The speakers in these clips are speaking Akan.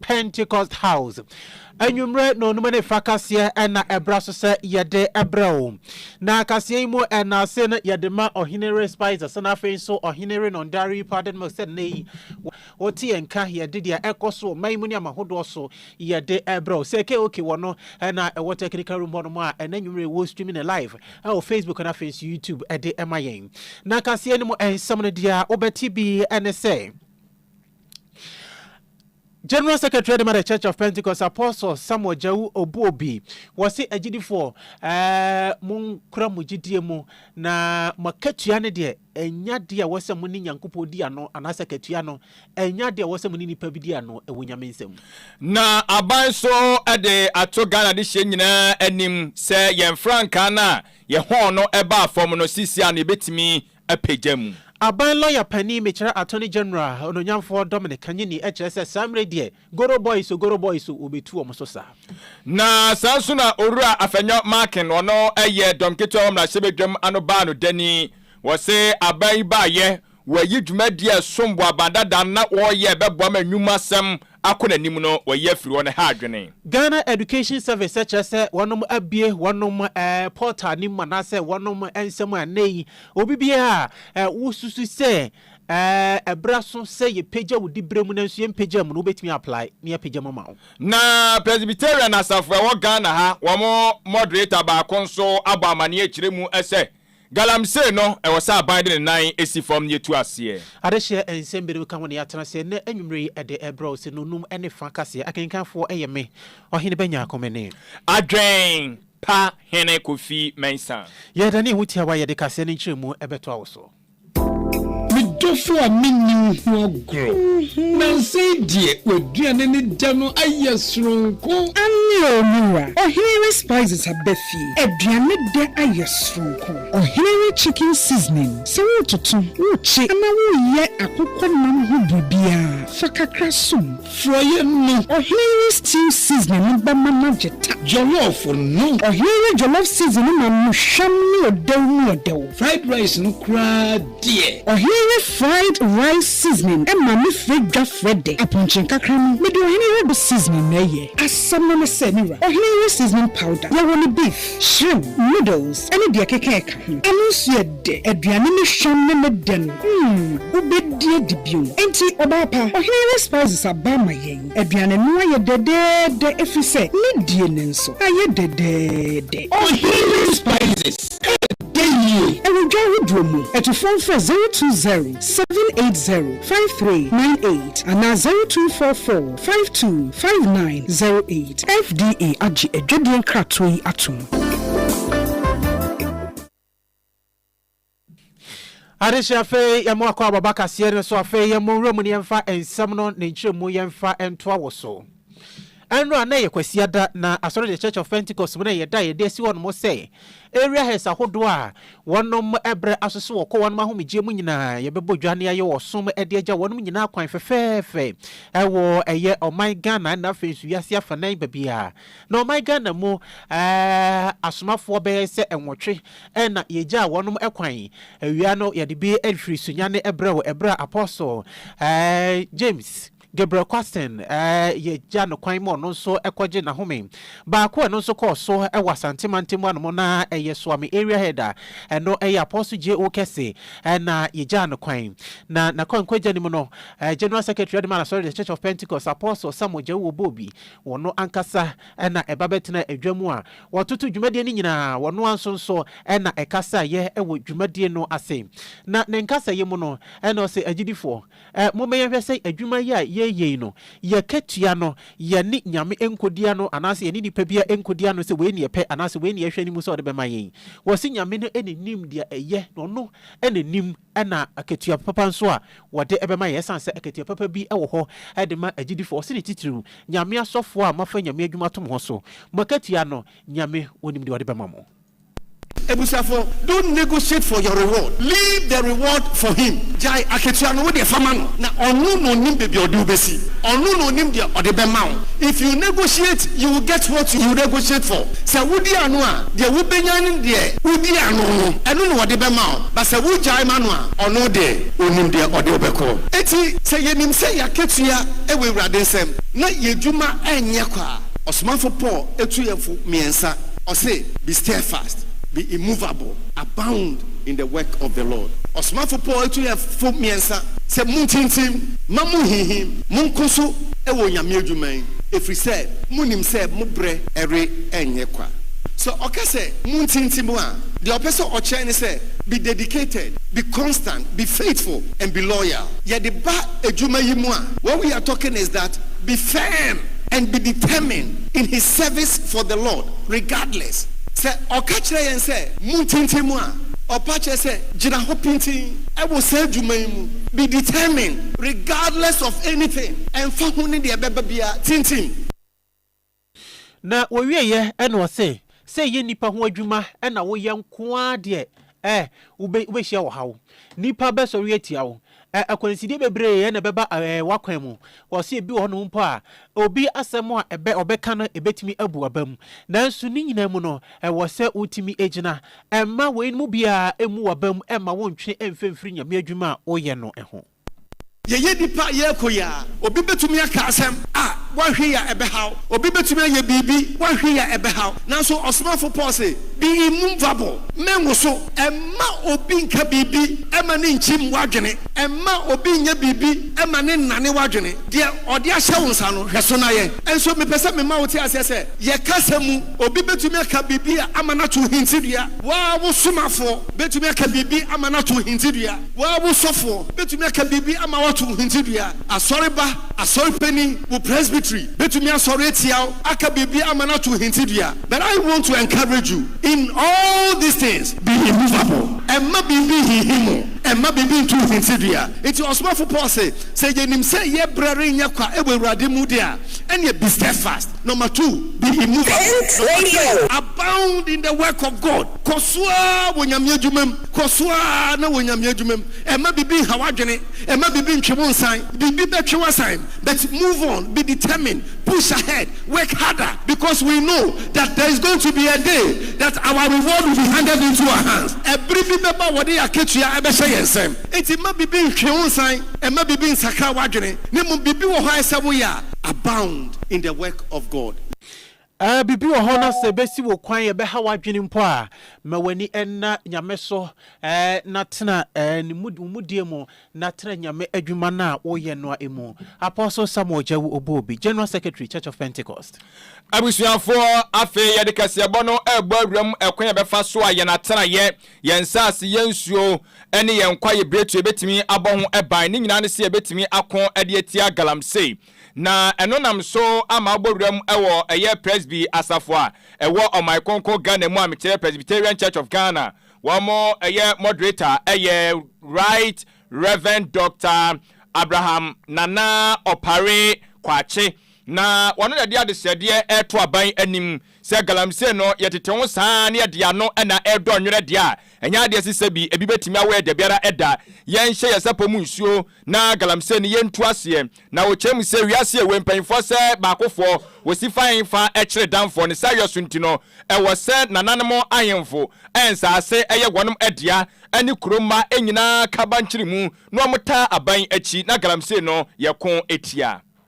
Pentecost House. Anwummere na onum ne fa kaseɛ na ɛbra so sɛ yɛde brɛ wo. Na kaseɛ yi mu nnaase no yɛde ma Ɔhenere Spicer sɛ na afei nso Ɔhenere Nondari Padenmilk sɛ nnɛ yi wote yɛn nka yɛde deɛ ɛkɔ so ɔman mu ne ama hodoɔ so yɛde brɛ wo sɛ KOK wɔ no na ɛwɔ technical room hɔ nom a ɛnɛ nwummere wɔ streaming ne live ɛwɔ Facebook na afei nso YouTube ɛde ɛma yɛn. Na kaseɛ no mu nsɛm no deɛ wobɛte bi ne sɛ. General Secretary dema the Church of Pentecost Apostle Samuel Gyau Obuobi, wɔse agyidifoɔ eh, monkura mo gyidie mu na mo akatua no deɛ ɛnya adeɛ a wɔsɛ mo ne Nyankopɔn di ano anaasɛ akatua no ɛnya adeɛ a wɔsɛ mo ne nipa bi di ano ɛwɔ Nyame nsam. Na aban so de ato Ghana dehyeɛ nyinaa anim sɛ yɛn frankaa no a yɛhɔn no baa fam no seesei a no yɛbɛtumi apagya mu. Aban lɔya panin mekyerɛ Attorney General Ononyamfoɔ Dominic Kanyini kyerɛ sɛ saa mmerɛ deɛ Goro boys o Goro boys o wɔbɛtu wɔn so saa. Na saa nso na Owura Afenyo Markin ɔno yɛ dɔm ketewa wɔ mmarahyɛbadwam ano baa no dani. Wɔse aban yi baayɛ wɔayi dwumadie a ɛsom bo aban dada na wɔreyɛ ɛbɛboa ma nnwuma sɛm akɔ nanim no wayi afiri hɔ no ha adwene. Ghana Education Service kyerɛ sɛ wɔnom abue wɔnom portal no mu anaasɛ wɔnom nsɛm a nnɛ yi obi biara a wosusu sɛ ɛberɛ aso sɛ yɛpagya wo diberɛ mu nanso yɛmpagyaa mu no wobɛtumi apply na yɛapagya mu ama wo. Na Presbyterian asafo a ɛwɔ Ghana ha wɔn moderator baako nso abɔ amaneɛ akyire mu sɛ Galamsey no, ɛwɔ sɛ aban de ne nan si fam na yɛtu aseɛ. Adehyeɛ nsɛm binom ka ho na yɛatena ase ɛnnɛ anwummerɛ yi de rebrɛ wo sɛ nnɔnnum ne fa kaseɛ akenkanfoɔ yɛ me, Ɔhene Bɛnya Komene. Adwen pa Hene Kofi Mensah. Yɛda ne ho tiawa a yɛde kaseɛ no nkyerɛmu bɛtoa wo so. Me dɔfo a menni wo ho agorɔ. Nansa yi deɛ w'aduane ne dɛ no ayɛ soronko. Aane o me wura, Ɔhene Rice Spices abɛ. fie. Aduane dɛ ayɛ soronko. Ɔhene we chicken seasoning, sɛ woretoto, wokye anaa woreyɛ akokɔ nam ho biribiara, fa kakra som. Forɔeɛ no. Ɔhene we stew seasoning no bɛma no agye ta. Jollof no. Ɔhene we jollof seasoning no ma no hwam ne ɔdɛw mu ɔdɛw. Fried rice no koraa deɛ. Ɔhene ne fried rice seasoning ma me frɛ dwa frɛ dɛ apɔnkye nkakra no me de ɔhene yere bo seasoning na ɛyɛ. Asɛm no ne sɛ me wura, ɔhene yere seasoning powder yɛ wɔ ne beef, shrimp, noodles ne deɛ ɛkeka ɛka ho. Ɛno nso yɛ dɛ, aduane ne hwam ne ne dɛ no mm wobɛdi adi bio. Enti ɔbaa pa, ɔhene yere spices aba ama yɛn. Aduane no ayɛ dɛdɛɛdɛ ɛfiri sɛ ne die no nso ayɛ dɛdɛɛdɛ. Ɔhene yere spices. Yɛ yiye wɔ dwa ahodoɔ mu. Atufo mfrɛ zero two zero, seven eight zero, five three nine eight anaa zero two four four, five two, five nine zero eight. FDA agye adwadie nkratoɔ yi atom. Adesua afei yɛmo akɔ ababakaseɛ no so afei yɛmo nwura mu ne yɛmfa nsɛm no ne nkyerɛmu yɛmfa ntoa wɔ so. Ɛnora na ɛyɛ Kwasiada na Asɔre The Church of Pentecost mu na ɛyɛ da a yɛde asi hɔnom sɛ Area Heads ahodoɔ a wɔnom brɛ asoso wɔ kɔ wɔnom ahomegyeɛ mu nyinaa yɛbɛbɔ dwa ne ayɛ ɔsom de agya wɔnom nyinaa kwan fɛfɛɛfɛ ɛwɔ ɛyɛ ɔman Ghana ɛna afei nso wiase afanan babia na ɔman Ghana mu asomafoɔ bɛyɛ sɛ nwɔtwe ɛna yɛgyaa wɔnom kwan awia no yɛde bi ɛhwiri sunyane ɛbrɛ wɔ ɛberɛ a Apostle James Gabriel Kwasten yɛagya no kwan ma ɔno nso kɔgye n'ahome. Baako a ɛno nso kɔɔ so wɔ Asante mantam anom na ɛyɛ Soame Area Head a ɛno yɛ Apostle J.O. Kese na yɛgyaa no kwan. Na n'akwankwagya no mu no, General Secretary Ademar Asɔre The Church of Pentecost, Apostle Samuel Gyau Obobi, ɔno ankasa na ɛba bɛtenaa adwa mu a wɔtoto dwumadie no nyinaa, ɔno ara nso nso na ɛkasaeɛ wɔ dwumadie no ase. Na ne nkasaeɛ mu no na ɔse agyidifoɔ, Ɛ, mobɛyɛ nhwɛ sɛ adwuma yi a yɛreyɛ yi no, yɛ katua no, yɛne Nyame nkodi ano, anaasɛ yɛne nipa biara nkodi ano sɛ wei ne yɛpɛ, anaasɛ wei ne yɛhwɛ anim sɛ ɔde bɛma yɛn. Wɔse Nyame no na Onim deɛ ɛyɛ, na Ɔno na Onim na akatua papa nso a wɔde bɛma yɛn, ɛsiane sɛ akatua papa bi wɔ hɔ de ma agyidifoɔ. Ɔse ne titiriw, Nyame asɔfoɔ a moafa Nyame adwuma ato mo ho so, mo akatua no, Nyame Onim deɛ Ɔde bɛma mo. Abusuafo, don't negotiate for your reward, leave the reward for him, gyae akatua no, wo deɛ fa ma no, na ɔno na ɔnim baabi a ɔde wo bɛsi, ɔno na ɔnim deɛ ɔde bɛma wo, if you negotiate, you will get what you negotiate for, sɛ wodi ano a, deɛ wobɛnya ne deɛ wodi ano no, ɛno na ɔde bɛma wo, but sɛ wogyae ma no a, ɔno deɛ ɔnim deɛ ɔde wo bɛkɔ. Enti sɛ yɛnim sɛ yɛn akatua wɔ Awurade nsam, na yɛn adwuma nyɛ kwa a, ɔsomafo Paul tu yɛn fo mmiɛnsa. Ɔse, Be steadfast, be immovable, abound in the work of the Lord. Ɔsomafo Paul etu yɛn fo mmiɛnsa sɛ, Muntintim, mma munnhinhim, monko so wɔ Onyame adwuma yi, efiri sɛ monim sɛ mo berɛ renyɛ kwa. Sɛ ɔka sɛ muntintim a, deɛ ɔpɛ sɛ ɔkyerɛ ne sɛ, be dedicated, be constant, be faithful and be loyal. Yɛde ba adwuma yi mu a, what we are talking is that be firm and be determined. in his service for the Lord regardless sɛ ɔka kyerɛ yɛn sɛ montintim mu a, ɔpa kyerɛ sɛ gyina hɔ pintinn wɔ saa adwuma yi mu, be determined regardless of anything, ɛmfa ho ne deɛ ɛbɛba biara, tintim. Na wɔwieɛ na ɔse, sɛ ɛyɛ nnipa ho adwuma na woyɛ nko ara deɛ, Ɛ, wobɛ, wobɛhyia ɔhaw. Nnipa bɛsɔre atia wo. Ɛ, akwansideɛ bebree na ɛbɛba ɛ, ɛ, w'akwan mu. Wɔse ebi wɔ hɔnom mpo a, obi asɛm a ɛbɛ, ɔbɛka no, ɛbɛtumi abu w'abam. Nanso ne nyinaa mu no, ɛwɔ sɛ wotumi gyina. Mma weinom biara mmu w'abam mma wonntwe mmfa mmfiri Nyame adwuma a woyɛ no ho. Yɛyɛ nnipa a yɛyɛ koyi a, obi betumi aka asɛm a woanhwɛ yie a ɛbɛhaw. Obi betumi ayɛ biribi woanhwɛ yie a ɛbɛhaw. Nanso ɔsomafo Paul se, Be immovable, mɛnwoso. Mma obi nnka biribi mma no nnkyim w'adwene. Mma obi nnyɛ biribi mma no nnane w'adwene. Deɛ ɔde ahyɛ wo nsa no, hwɛ so na yɛ. Nso mepɛ sɛ mema wote aseɛ sɛ, yɛn kasa mu, obi betumi aka biribi ama no ato hintidua. Wo ara wo somafoɔ betumi aka biribi ama no ato hintidua. Wo ara wo sɔfoɔ bɛtumi aka biribi ama woato wo hintidua. Asɔreba, asɔre panin, wo presbytery bɛtumi asɔre atia wo aka biribi ama no ato wo hintidua. But I want to encourage you in all these things, be immovable. Mma biribi nhinhim wo. Mma biribi nto wo hintidua. Enti ɔsomafo Paul se, Sɛ yɛnim sɛ yɛn berɛ renyɛ kwa wɔ Awurade mu de a, ɛnneɛ be steadfast. Number two, be immovable. Number three, abound in the work of God. Kɔ so ara wɔ Nyame adwuma mu. Kɔ so ara na wɔ Nyame adwuma mu. Ɛmma biribi nha w'adwene. Ɛmma biribi ntwe wo nsan. Biribi bɛtwe w'asan but move on, be determined, push ahead, work harder because we know that there is going to be a day that our reward will be handed into our hands. Ɛbere bi bɛba a wɔde yɛn akatua bɛhyɛ yɛn nsam. Enti mma biribi ntwe wo nsan, ɛmma biribi nsakra w'adwene, na mmom biribi wɔ hɔ a ɛsɛ woyɛ a, abound in the work of God. Ahh biribi wɔ hɔ na sɛ ɛbɛsi wo kwan ɛbɛha w'adwene mpo a, ma w'ani nna Nyame so eh, na tena eh, ne mu, wo mudie mu, na tena Nyame adwuma no a wo yɛ noa mu. Apostle Samuel Gyawu Obuobi, General Secretary, Church of Pentecost. Abusuafoɔ, afei yɛde kaseɛbɔ no rebɔ awuram ɛkwan a yɛbɛfa so a yɛn atenaeɛ, yɛn nsase, yɛn nsuo, ne yɛn kwaeɛ biretuo bɛtumi abɔ ho ban. Ne nyinaa ne sɛ yɛbɛtumi ako de atia galamsey. Na ɛno nam so ama abɔ wuram wɔ ɛyɛ Presby asafo a ɛwɔ Ɔman Kronkron Ghana mu a mekyerɛ Presbyterian Church of Ghana, wɔn ɛyɛ moderator ɛyɛ Right Rev. Doctor Abraham Nana Opare Kwakye, na ɔno na ɛde adesrɛdeɛ reto aban anim Sɛ galamsey no, yɛtete ho saa ara na yɛde ano na ɛredɔ nwerɛ deɛ a, ɛnyɛ adeɛ a ɛsɛ sɛ bi ebi bɛtumi awɔ yɛn dabiara da. Yɛnhyɛ yɛn sapɔ mu nsuo na galamsey no yɛntu aseɛ. Na wɔkyerɛ mu sɛ wiase awue mpanimfoɔ sɛ baakofoɔ, wɔsi fa ahemfa kyerɛ damfoɔ. Ne saa yɔso nti no, ɛwɔ sɛ nananom ahemfo a nsaase yɛ wɔn dea ne kuro mma nyinaa ka bankyere mu na wɔtaa aban akyi na galamsey no yɛko tia.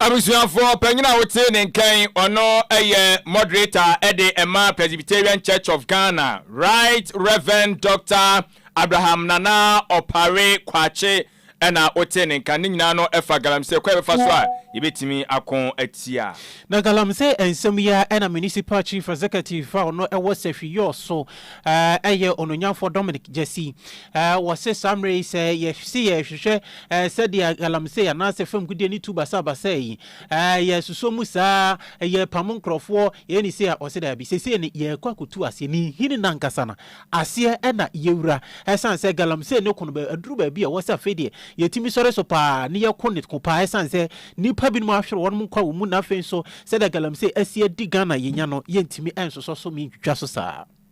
Abusuafoɔ, Panyin a wote ne nkan, ɔno yɛ Moderator de ma Presbyterian Church of Ghana, Right Rev. Doctor Abraham Nana Opare Kwakye na wote ne nka. Ne nyinaa no fa Galamsey kwan a yɛbɛfa so a yɛbɛtumi ako atia. Na Galamsey nsɛm yi ara na Municipal Chief Executive a ɔno wɔ Sahwi Yoo so yɛ Onuonyamfoɔ Dominic Gyasi. Wɔse saa mmerɛ yi sɛ yɛse yɛrehwehwɛ Ɛɛ, sɛdeɛ galamsey anaasɛ fam gudeɛ no tu basabasa yi, ɛɛ, yɛsosɔ mu saa a, yɛrepamo nkorɔfoɔ, yɛyɛ no sei a, wɔse daabi. Seesei no, yɛrekɔ akɔtu aseɛ. Ne nhini no ankasa no aseɛ na yɛwura. Ɛsiane sɛ galamsey no ko no, aduru baabi a ɛwɔ sɛ afei deɛ yɛtumi sɔre so pa ara na yɛko no ko pa ara ɛsiane sɛ nnipa binom ahwere wɔnom nkwa wɔ mu na afei nso sɛdeɛ galamsey asi adi Ghana yɛnya no, yɛntumi nsosɔ so, mentwitwa so saa.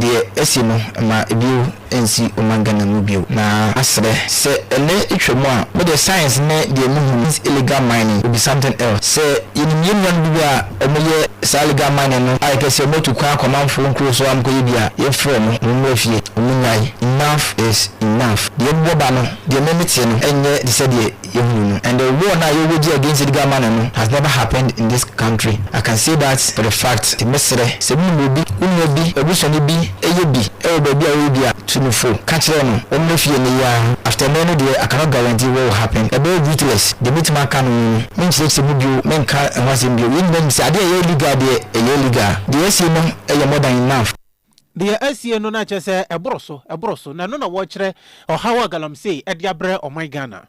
Deɛ asi no ma bio nsi Oman Ghana mu bio na asrɛ. Sɛ ɛnɛ etwa mu a, me deɛ science ne deɛ me hu is illegal mining will be something else. Sɛ yɛnim yɛn nuanom bi a wɔn yɛ saa illegal mining no a yɛpɛ sɛ wɔn atu kwan akɔ amanfoɔ nkuro so a wɔn kɔ yɛ bi a, yɛn frɛ wɔn, wɔn mmra fie, wɔn nnyae, enough is enough. Deɛ ɛbobɔ ba no, deɛ me me teɛ no ɛnyɛ te sɛ deɛ yɛhunu no and the war no a yɛwɔ gye against Edgar Mano no has never happened in this country I can say that for the fact nti mɛsrɛ sɛ wonim obi, wo nua bi, w'abusuani bi yɛ bi wɔ baabi a ɔyɛ bi a tu no fo ka kyerɛ no ɔmmra fie ɛnnɛ yi ara after ɛnnɛ no deɛ I cannot guarantee what will happen ɛbɛyɛ ruthless deɛ mɛtumi aka no ho no menkyerɛkyerɛ mu bio menka ho asɛm bio yɛn nyinaa nim sɛ adeɛ a ɛyɛ illegal deɛ ɛyɛ illegal deɛ yɛasie no yɛ more than enough. Deɛ asie no na kyerɛ sɛ ɛboro so, ɛboro so, na ɛno na wɔrekyerɛ ɔhaw a galamsey ɛde abrɛ ɔman Ghana.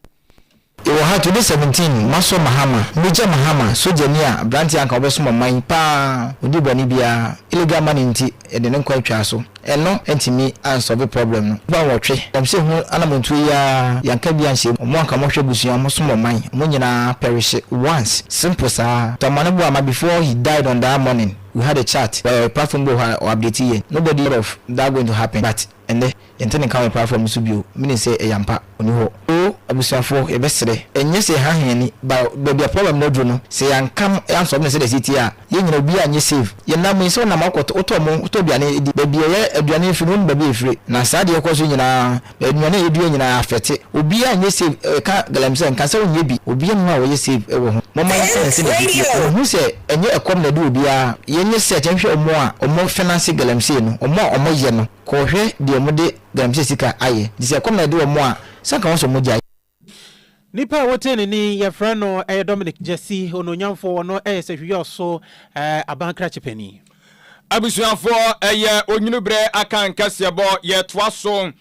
Yɛwɔ ha today seventeen masɔ Mahama Major Mahama sogyani a abranteɛ anka ɔbɛsom ɔman yi paa ɔnni bɔne biara illegal money nti yɛde ne nkwa twaa so ɛno antumi ansɔve problem no nnipa nwɔtwe galamsey ho anamontuo yi ara yɛanka bi anhyɛ mu ɔmo anka ɔmo hwɛ abusua ɔmo som ɔman ɔmo nyinaa perishe once simple saa Tamale Buama before he died on that morning we had a chat wɔ yɛ platform bi wɔ hɔ a ɔ update yɛn nobody thought of that going to happen but ɛnnɛ yɛnte ne nka wɔ yɛ platform no so bio meaning sɛ ɛyɛ ampa ɔni hɔ oo abusuafoɔ yɛbɛsrɛ ɛnyɛ sɛ yɛhaha yɛn ani but baabi a problem no aduru no sɛ yɛanka no yɛansɔlve no sɛdeɛ ɛsɛ tie a yɛn nyinaa obiara nyɛ save yɛnam yi sɛ wonam akɔ wotɔ mo wotɔ aduane di baabi a yɛ aduane firi no wonim baabi a ɛfire na saa deɛ ɛkɔ so yi nyinaa Nnuane a yɛdua nyinaa afɛte obiara nyɛ save ɛka galamsey nka sɛ ɔnyɛ bi obiara mu a wɔyɛ save ɛwɔ ho moma yɛnhwɛ yɛn sɛdeɛ ɛsi teɛ ɔmo hu sɛ ɛnyɛ ɛkɔm na ɛde obiara yɛnyɛ search nhwɛ ɔmo a ɔmo fenase galamsey no ɔmo a ɔmo yɛ no kɔɔhwɛ deɛ ɔmo de galamsey sika ayɛ nti sɛ ɛkɔm na ɛde ɔmo a sɛ anka wɔn sɛ ɔmo gyae. Nipa a wotee ne nne yi, yɛfrɛ no ɛyɛ Dominic Gyasi, onuonyamfoɔ, ɔno ɛyɛ Sahwiyɔɔ so aban krakye panin. Abusuafoɔ, ɛyɛ onwunu berɛ aka nkaseɛbɔ, yɛretoa so,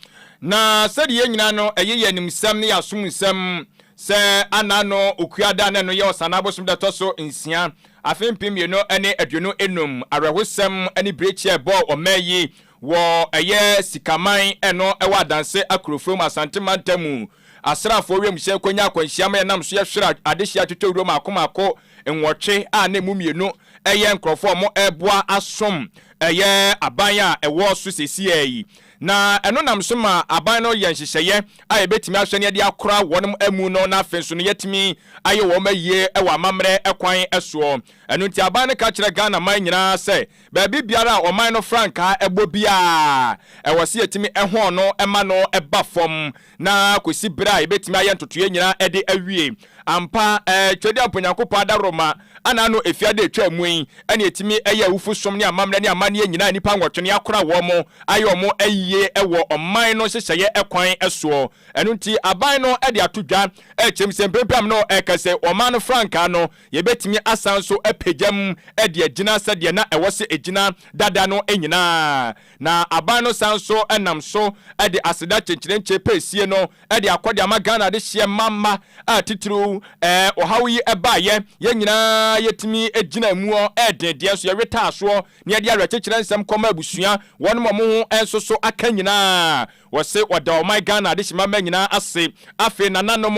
na sɛdeɛ yɛn nyinaa no, ɛyɛ yɛn animsɛm ne yɛn asom nsɛm sɛ Anna no Okua da, na ɛno yɛ Ɔsanaa bosome da ɛtɔ so nsia, afe mpem mmienu ne aduonu nnum. Awerɛhosɛm ne birikyia a ɛbɔɔ ɔman yi Wɔ ɛyɛ Sikaman ɛno ɛwɔ Adanse Akorofua mu Asante Mantam mu, asraafoɔ wiemhyɛn kɔnya akwanhyia ma yɛnam so yɛhwere adehyeɛ atwitwawura mmaako mmaako nwɔtwe a na ɛmu mmienu ɛyɛ nkorɔfoɔ a wɔreboa asom ɛyɛ aban a ɛwɔ so seesea yi. Na ɛno nam so ma aban no yɛ nhyehyɛeɛ a yɛbɛtumi ahwɛ na yɛde akora wɔnom amu no na afei nso no yɛatumi ayɛ wɔnom ayie wɔ amammerɛ kwan soɔ. Ɛno nti aban no ka kyerɛ Ghana man nyinaa sɛ Baabi biara a ɔman no frankaa bɔ biara, ɛwɔ sɛ yɛtumi hɔn no ma no ba fam na kɔsi berɛ a yɛbɛtumi ayɛ ntotoeɛ nyinaa de awie. Ampa, Twedeamp Onyankopɔn adaworoma anaa no ɛfia da ɛtwaa mu yi na ɛtumi yɛ awufosom ne amammerɛ ne amanneɛ nyinaa a nnipa nwɔtwe ne akora wɔn mo ayɛ wɔn mo ayie wɔ ɔman no nhyehyɛeɛ kwan soɔ. Ɛno nti aban no de ato dwa kyerɛ mu sɛ mprempren a me ne wo ɛrekasa yi ɔman no frankaa no Yebetumi asan nso apagya mu de agyina sɛdeɛ na ɛwɔ sɛ ɛgyina dada no nyinaa. Na aban no san nso nam so de aseda kyenkyerenkye pɛsie no de akɔ de ama Ghana adehyeɛ ma mma a titiriw ɛɛ ɔhaw yi baeɛ. Yɛn nyinaa yɛtumi gyinaa mu ɔ den deɛ nso yɛwetaa soɔ na yɛde awerɛkyekyerɛ nsɛm kɔmaa abusua, wɔnom a wɔn ho nso so aka nyinaa. Wɔse wɔda ɔman Ghana adehyemamma nyinaa ase. Afei nananom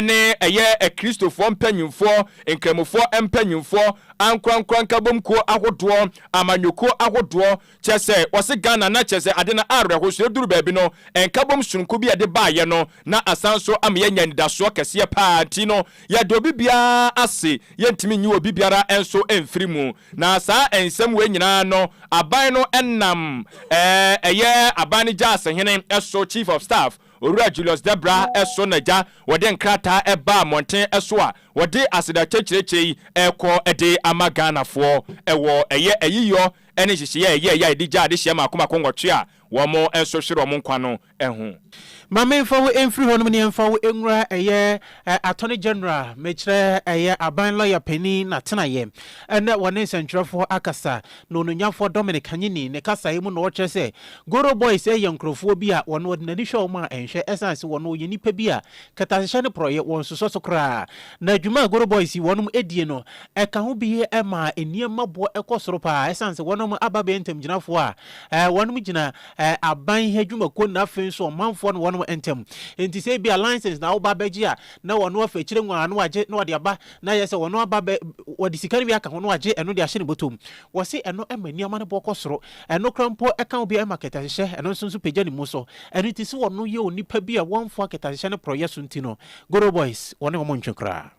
ne ɛyɛ Akristofoɔ mpanyimfoɔ, Nkramofoɔ mpanyimfoɔ, ankorankora nkabom kuo ahodoɔ, amanyɔkuo ahodoɔ, kyerɛ sɛ wɔse Ghana na kyerɛ sɛ ade no awerɛho so ɛduru baabi no nkabom sononko bi a ɛde baeɛ no na asan nso ama yɛanya anidasoɔ kɛseɛ paa nti no yɛda obi biara ase, yɛntumi nyi obi biara nso mfiri mu. Na saa nsɛm wei nyinaa no, aban no nam ɛyɛ aban no gyasehene so, Chief of Staff, Owura Julius Debra so na gya wɔde nkrataa baa mmɔnten so a wɔde aseda kyɛkyerɛkyɛ yi rekɔ de ama Ghanafoɔ wɔ ɛyɛ ayiyɔ ne nhyehyeɛ a ɛyɛeɛ a ɛde gyaa adehyeɛ mmaako mmaako nwɔtwe a wɔn nso hwere wɔn nkwa no ho. Ma memfa wo mfiri hɔ nom ne ɛmfa wo nwura ɛyɛ Attorney General, mekyerɛ ɛyɛ Aban Lɔya Panin n'atenaeɛ. Ɛnnɛ wɔne nsɛntwerɛfoɔ akasa, na Onuonyanfoɔ Dominic Kanyini ne kasaeɛ mu na ɔkyerɛ sɛ Goro Boys ɛyɛ nkorɔfoɔ bi a wɔn wɔde n'ani hwɛ wɔn a ɛnhwɛ ɛsiane sɛ wɔn wɔyɛ nnipa bi a kɛtɛasehyɛ ne porɔeɛ wɔn sosɔ so koraa. Na dwuma a Goro Boys yi wɔnom ɛdie no ɛka ho bi ɛma nneɛma boɔ ɛkɔ soro paa ɛsiane sɛ wɔnom aba bɛyɛ ntamgyinafoɔ a wɔnom gyina ɛɛ aban ha adwumakuo no na afei nso ɔmanfoɔ no wɔn ntam. Nti sɛ ebi a license na woba abɛgye a na wɔn afei akyire nwaa no agye na wɔde aba na ayɛ sɛ wɔn aba bɛ wɔde sika no bi aka ho na wɔagye ɛno de ahyɛ ne bɔtɔm. Wɔse ɛno ɛma nneɛma no boɔ kɔ soro. Ɛno koraa mpo ɛka obi ɛma kɛtɛhyehyɛ ɛno nso nso pagya ne mu so. Ɛno nti sɛ wɔn yɛ onipa bi a wɔmfoa kɛtɛhyehyɛ ne porɔyɛ so nti no Goro boys wɔne wɔn ntwe koraa.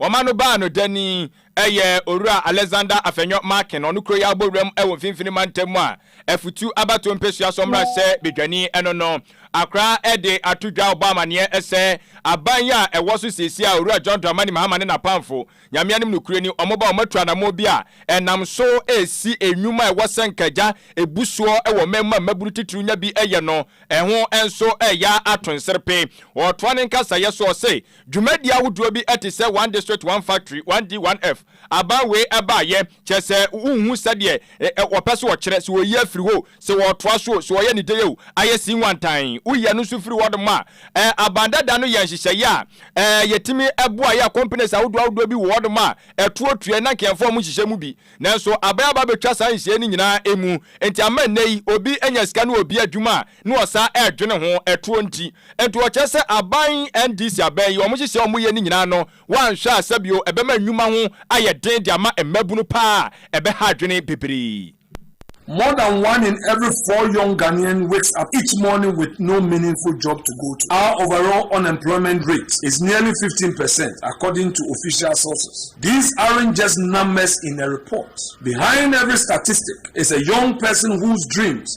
Wɔma no baa no dani yɛ Owura Alexander Afenyo Markin, ɔno kuro yi abɔwuram wɔ Mfimfini Mantam mu a Afutu abatoɔ mpesua so mmarahyɛ badwani no no akora de ato dwa rebɔ amaneɛ sɛ aban yi a ɛwɔ so seesei a Owura John Dramani Mahama ne n'apamfo, Nyame anim nokorɛ ni, wɔba a wɔatu anammɔn bi a ɛnam so resi nnwuma a ɛwɔ sɛ nka agya bu soɔ wɔ ɔman mu a mmabunu titiriw nya bi yɛ no ho nso reyɛ ato nserepe. Ɔretoa ne nkasaeɛ so ɔse, Dwumadi ahodoɔ bi te sɛ One District, One Factory, 1D, 1F, aban wei baeɛ, kyerɛ sɛ wonhu sɛdeɛ wɔpɛ sɛ wɔkyerɛ, sɛ wɔyi afiri hɔ o, sɛ wɔtoa so o, sɛ wɔyɛ no dei o, ayɛ sinwantan. Woyi ɛno nso firi hɔnom a, aban dada no yɛ nhyehyɛeɛ a yɛtumi boa yɛ companies ahodoɔ ahodoɔ bi wɔ hɔnom a ɛtoɔ tua na nka yɛmfa wɔn nhyehyɛ mu bi. Nanso aban aba abɛtwa saa nhyehyɛeɛ no nyinaa mu, nti ama nnɛ yi obi nya sika ne obi adwuma a, na ɔsan ɛredwene ho, ɛtoɔ nti. Nti ɔkyerɛ sɛ aban NDC abɛn yi, wɔn nhyehyɛe a wɔyɛ no nyinaa no, woanhwɛ a sɛbio ɛbɛma nnwuma ho ayɛ den de ama mmabunu paa a ɛbɛha adwene bebree. More than one in every four young Ghanaian wakes up each morning with no meaningful job to go to. Our overall unemployment rate is nearly fifteen percent according to official sources. These aren't just numbers in a report. Behind every statistic is a young person whose dreams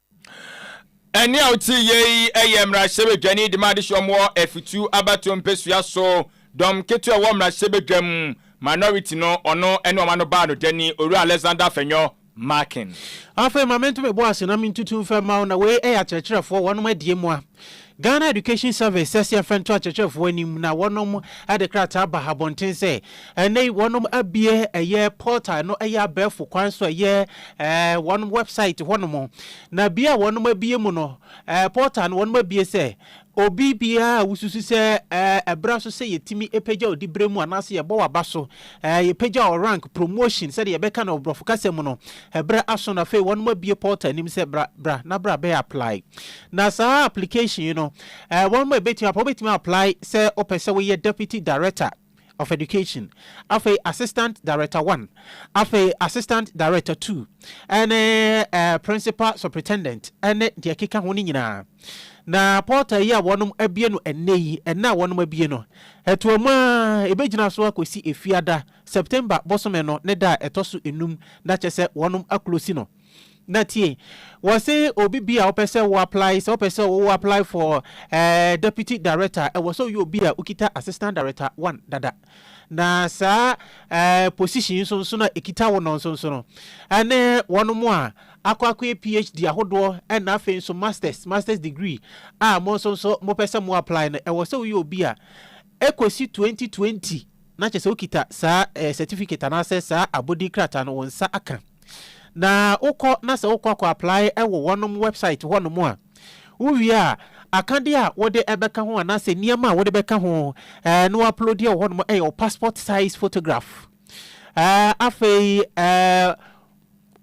Ɛnne a wote yɛ yi yɛ mmarahyɛbadwani de ma adesoa mu wɔ Afutu abatoɔ mpesua so. Dɔm ketewa a ɛwɔ mmarahyɛbadwam, minority, no, ɔno ne wɔn ano baanodani, Owura Alexander Afenyo Markin. Afei ma mento me bo ase na mentutu mfa mma wo na wei yɛ akyerɛkyerɛfoɔ, wɔnom adie mmoa. Ghana Education Service sɛsi afɛ nto akyerɛkyerɛfoɔ anim na wɔnom de krataa ba abɔnten sɛ ɛnnɛ yi wɔnom abue ɛyɛ portal no ɛyɛ abɛɛfo kwan so ɛyɛ ɛɛ wɔnom website hɔnom na bia wɔnom abue mu no ɛɛ portal no wɔnom abue sɛ obi biara a wosusu sɛ ɛɛ ɛbra so sɛ yɛtumi ɛpagya odi berɛ mu anaasɛ yɛbɔ waba so ɛɛ yɛpagya wɔ rank promotion sɛdeɛ yɛbɛka no ɔborɔfo kasa mu no ɛberɛ aso na afei wɔnom abue portal anim sɛ bra bra na bra bɛyɛ apply Na saa application yi no eh, wɔn mo ɛbɛtumi apa, wobɛtumi apply sɛ wopɛ sɛ woyɛ Deputy Director of Education, afei Assistant Director One, afei Assistant Director Two, ɛne eh, Principal Superintendent, ɛne deɛ ɛkeka ho no nyinaa. Na portal yi a wɔn abie no ɛnnɛ yi, ɛnnɛ a wɔn abie no, ɛtoa mu a ɛbɛgyina so akɔsi Efiada, September bosome no ne da a ɛtɔ so enum, na kyɛ sɛ wɔn aklosi no. Na tie, wɔse obi bi a wopɛ sɛ wo apply, sɛ wopɛ sɛ wo apply for eh, deputy director, ɛwɔ sɛ woyɛ obi a wokita assistant director one dada. Na saa eh, position yi nso nso na ɛkita wo no nso nso no, ɛne wɔn mo a akɔ akɔyɛ PhD ahodoɔ ɛna afei nso masters, masters degree a mo nso nso mopɛ sɛ mo apply no, ɛwɔ sɛ woyɛ obi a ɛkɔsi 2020 na kyerɛ sɛ wokita saa eh, certificate anaasɛ saa abɔdin krataa no wo nsa aka, na wokɔ na sɛ wokɔ akɔ apply wɔ wɔnom website hɔnom a, wowie a, akadeɛ a wode bɛka ho anaasɛ nneɛma a wode bɛka ho eh, na woaploadeɛ wɔ hɔnom yɛ wo passport size photograph. Eh, afei eh,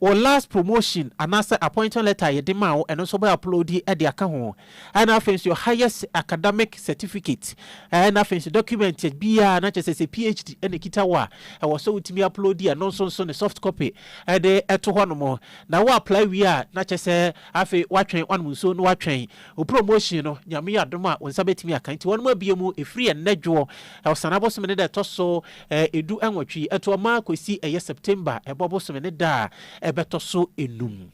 Wo last promotion anaasɛ appointment letter a yɛde maa wo, ɛno nso wobɛ upload de aka ho. Ɛna afei nso your highest academic certificate, ɛna afei nso document biara na kyerɛ sɛ sɛ PHD na ɛkita wo a, ɛwɔ sɛ wotumi upload ɛno nso nso ne soft copy de to hɔnom. Na wo apply wie a, na kyerɛ sɛ afei woatwɛn, woanom nsuo na woatwɛn wo promotion no, Nyame adom a wo nsa bɛtumi aka. Nti wɔnom abue mu ɛfiri ɛnnɛ dwoɔ, Ɔsane abosome no da ɛtɔ so Ɛ edu ɛnwɔtwe yi ɛtoɔ maa kwesi ɛyɛ September ɛbɔ bosome ne da a ɛbɛtɔ so ɛnum.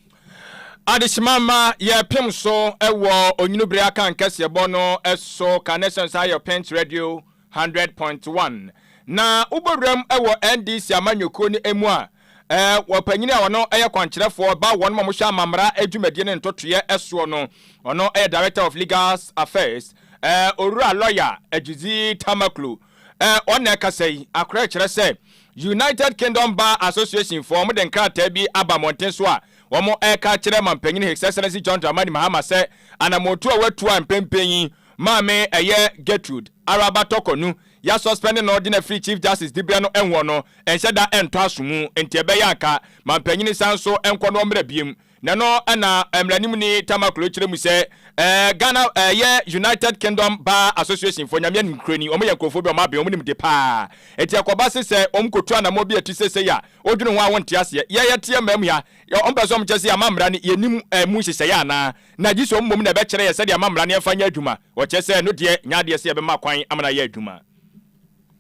Adehyema mma yɛpem so ɛwɔ Onyini bere akankɛseɛ bɔ no ɛso Carnations ha yɛ Pent Radio hundred point one na wobɔ wuram ɛwɔ NDC amanyɔkuo no ɛmu a ɛ wɔ panyini a ɔno ɛyɛ kwankyerɛfoɔ ba wɔnom a wɔhwɛ amammara ɛdwumadie ne ntotoeɛ ɛsoɔ no ɔno ɛyɛ Director of Legals Affairs ɛ Owura Lawyer Agyedzi Tamakloe Eh, wɔn na ɛkasa yi. Akorɛ kyerɛ sɛ United Kingdom Bar Association foɔ, wɔn de nkrataa bi aba mmɔnten so a wɔn reka akyerɛ Manpanyin His Excellency John Dramani Mahama sɛ anamɔntu a watu a mpɛnpɛn yi maame ɛyɛ Gertrude Araba Tɔkɔnu ya suspend no de no afiri Chief Justice dibea no ɛhoɔ no nhyɛ da ɛntɔ aso mu nti ɛbɛyɛ a nka Manpanyin san nso nkɔ no ɔmmra biom Na ɛno na mmaranimni Tama Klo kyerɛ mu sɛ eh, Ghana eh, yɛ United Kingdom Bar Association fo, Nyame ankurani, wɔn yɛ nkurɔfoɔ bi a wɔn aben, wɔn nim de paa. Enti ɛkɔba se sɛ wɔn kɔtu anamɔ bi a ɛte sesei a, wodwene ho a wonte aseɛ. Yɛ yɛteɛ mmaa mu ha, wɔn pɛ sɛ wɔn kyerɛ sɛ yɛamammara no, yɛnim eh, mu nhyehyɛeɛ anaa? Na gyese wɔn mmom na ɛbɛkyerɛ yɛ sɛdeɛ amammara no yɛmfa nyɛ adwuma. Wɔkyerɛ sɛ ɛno deɛ nyɛ adeɛ sɛ yɛbɛma kwan ama no ayɛ adwuma.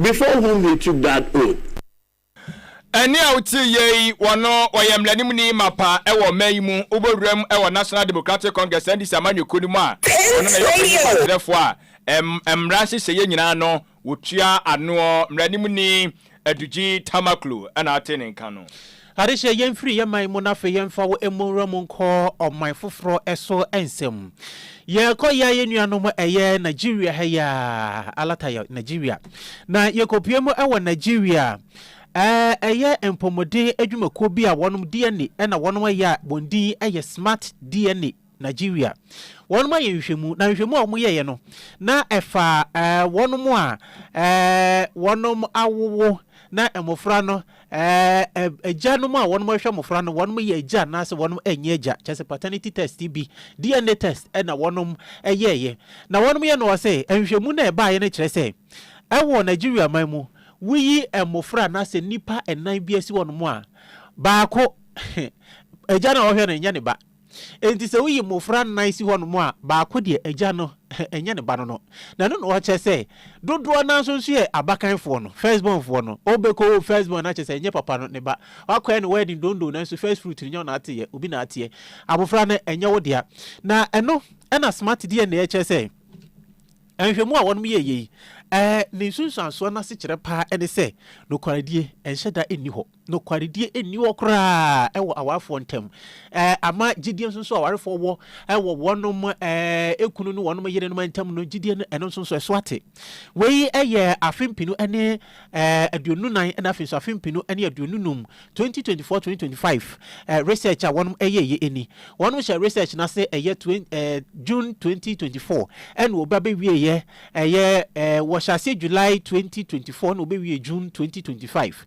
Before whom he took that oath. Ɛnne a wotie yɛ yi, ɔno ɔyɛ mmaraninmuni mapa wɔ ɔman yi mu, wobɔ wuram wɔ National Democratic Congress, NDC, amanyɔkuo no mu a ɔno na ɛyɛ ɔpanyin kwankyerɛfoɔ a mmara nhyehyɛeɛ nyinaa no wɔtua anoɔ, Mmaraninmuni Adugyi Tamakloe na ɔte ne nka no. Ade kyɛ, yɛmfiri yɛn man mu na afei yɛmfa wo mmu nwura mu nkɔ ɔman foforɔ so nsɛm. Yɛkɔ yɛ a yɛn nuanom ɛyɛ Nigeria ha yi a, Alata yɛ Nigeria, na yɛkɔpue mu wɔ Nigeria a, ɛyɛ mpɔmuden adwumakuo bi a wɔnom DNA na wɔnom yɛ a wɔn din yɛ Smart DNA. Nigeria. Wɔnom ayɛ nhwehwɛmu na nhwehwɛmu a wɔn yɛeɛ no na ɛfa wɔnom a wɔnom awowo na mmɔfra no agya nom a wɔnom hwɛ mmɔfra no wɔnom yɛ agya anaasɛ wɔnom nyɛ agya kyɛ sɛ paternity test bi DNA test na wɔnom yɛeɛ na wɔnom yɛ no wɔ sɛ nhwehwɛmu na ɛbaeɛ no kyerɛ sɛ ɛwɔ Nigeria man mu woyi mmɔfra anaasɛ nnipa nnan bi asi wɔnom a baako agya no a wɔhwɛ no nyɛ ne ba. Enti sɛ woyi mmofra nnan si hɔnom a, baako deɛ, agya no, ɛnyɛ ne ba no no. Na ɛno na ɔkyerɛ sɛ, dodoɔ no ara nso nso yɛ abakanfoɔ no, first born foɔ no. Wobɛkɔwo first born no akyerɛ sɛ ɛnyɛ papa no ne ba. Woakɔyɛ no wedding dondoo nanso first fruit no nyɛ wo na ateɛ, obi na ateɛ. Abofra no, ɛnyɛ wo dea. Na ɛno na Smart DNA kyerɛ sɛ, nhwɛmu a wɔnom yɛeɛ yi, ne nsunsuansoɔ no asekyerɛ paa ne sɛ, nokwaredie nhyɛ da nni hɔ. Nokwaredie nni hɔ koraa wɔ awarefoɔ ntam. Ama gyidie nso a awarefoɔ wɔ wɔ wɔnom kunu ne wɔnom yerenom ntam no, gyidie no ɛno nso ɛso ate. Wei yɛ afe mpenu ne aduonu nan na afei nso afe mpenu ne aduonu num, 2024-2025 research a wɔnom yɛeɛ ni. Wɔnom hyɛɛ research no ase ɛyɛ June 2024 ɛna wɔba bɛwieeɛ ɛyɛ wɔhyɛ aseɛ July 2024 ɛna wɔbɛwie June 2025.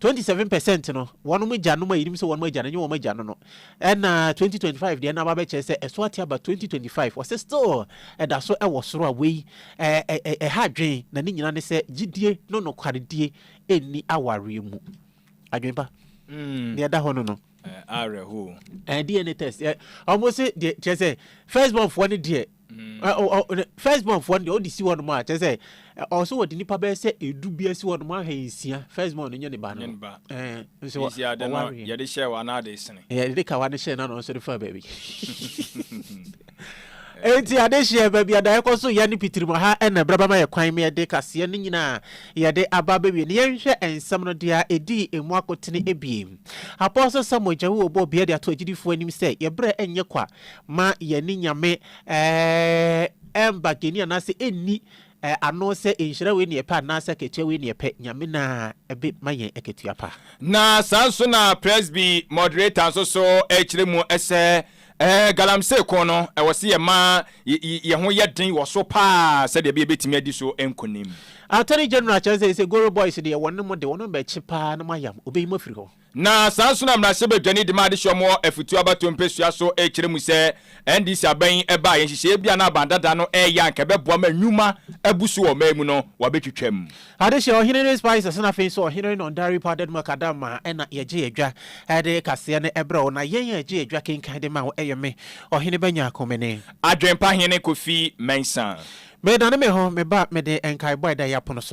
Twenty seven percent no wɔn mo gya nom a yɛnim sɛ wɔn mo agya no ɛnyɛ wɔn mo agya no no ɛna twenty twenty five deɛ na aba bɛkyerɛ sɛ ɛso ate aba twenty twenty five wɔsɛ still ɛda so ɛwɔ soro a wei ɛɛ ɛha adwen na ne nyina ne sɛ gyidie no nokwaredie ɛnni awareɛ mu adwen pa mm. deɛ ɛda hɔ no no awerɛho eh, eh, DNA test wɔn eh, se deɛ kyerɛ sɛ first born foɔ ne deɛ First born foɔ no deɛ ɔde si hɔ nom a kyerɛ sɛ ɔwɔ sɛ wɔde nipa bɛyɛ sɛ edu bi asi hɔ nom ahwɛ nsia first born no nye ne ba no nso ɔware yɛde hyɛ wa na ade sene yɛde ka wa no hyɛ na no nso de fa baabi enti ade hyɛ baabi ada ɛkɔ so yɛ ne pitirima ha ɛna braba ma yɛ kwan ma yɛde kaseɛ no nyinaa yɛde aba bɛwie ne yɛnhwɛ nsɛm no deɛ ɛdii emu akotene ebiem Apostle Samuel Gyawu ɔbɔ bia de ato agyidifoɔ anim sɛ yɛbrɛ ɛnyɛ kwa Ma yɛne Nyame ɛɛɛ mba geni anaasɛ enni ɛɛ ano sɛ nhyira wei ne yɛpɛ anaasɛ akatua wei ne yɛpɛ, Nyame na ɛbe ma yɛn akatua pa. Na saa nso na Presby Moderator nso so ɛɛkyerɛ mu sɛ ɛɛ Galamsey ko no ɛwɔ se yɛma y y yɛn ho yɛ den wɔ so paa sɛdeɛ ɛbɛyɛ yɛbɛtumi adi so nkonim. Attorney General kyerɛ sɛ ese Goro Boys deɛ wɔne mo de wɔne mo bɛkye paa na mo ayam, obeyi mo afiri hɔ. Na saa nso na mmarahyɛbadwani de ma adehyeɛ mu wɔ Afutuo abatoɔ mpɛsua so rekyerɛ mu sɛ NDC aban yi ba a yɛ nhyehyɛeɛ bi a na aban dada no reyɛ a anka ɛbɛboa ma nnwuma abu so wɔ ɔman yi mu no wɔabɛtwitwam. Adehyeɛ, Ɔhene Reese Paisley na afei nso Ɔhene Renon Dare Powdered Macadam a ɛna yɛgye yɛ dwa de kaseɛ no brɛ wo na yɛn a yɛgye yɛ dwa kenkan de ma wo yɛ me, Ɔhene Banyako Mene. Adwempa Hene Kofi Mensah. Medane me ho meba mede nkaebɔ a ɛda yɛ apono so.